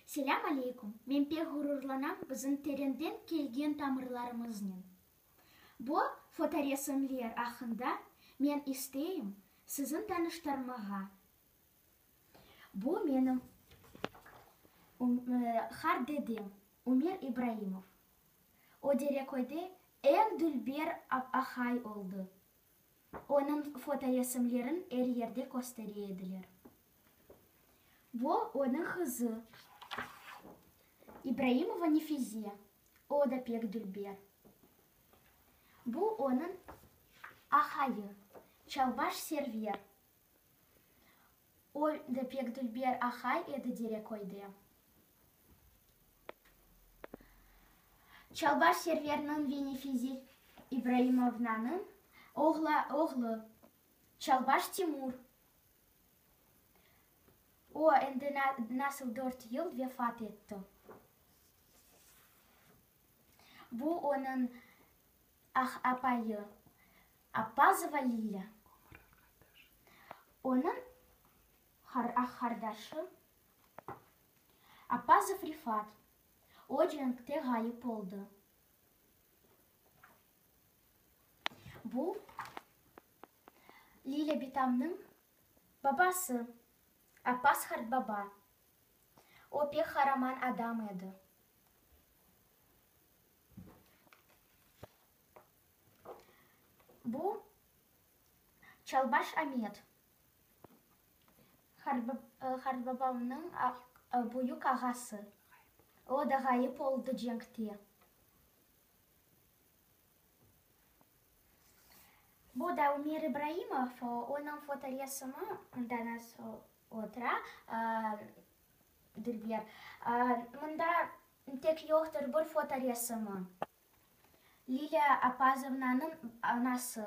Selâm aleykum, men pek ğururlanam bizim terenden kelgen tamırlarımıznen. Bu fotoresimler aqqında men isteyim sizin tanıştırmağa. Bu menim qar dedem Umir İbraimov. O Dereköyde eñ dülber ahay oldı. Onıñ fotoresimlerin er yerde köstere ediler. Vo, onıñ qızı, İbraimova Nefize, o da pek dülber. Bu onıñ aqayı, Çalbaş Server. O da pek dülber aqay edi Dereköyde. Çalbaş Serverniñ ve Nefize İbraimovnanıñ oğlu, Çalbaş Timur. O, endi nasıl dört yıl vefat etti. Bu, onıñ apayı Appazova Lilâ, onıñ aq-qardaşı Appazov Refat, o, cenkte ğayıp oldı. Bu, Lilâ bitamnıñ babası, Appas Hartbaba. O pek qaraman adam edi. Bu, Çalbaş Amet, Hartbabamnıñ büyük ağası. O da ğayıp oldı cenkte. Bu da Umir İbraimov, onıñ fotoresimi, danası otura, dülber. Mında tek yoqtır bir fotoresimi, Lilâ Apazovnanıñ anası.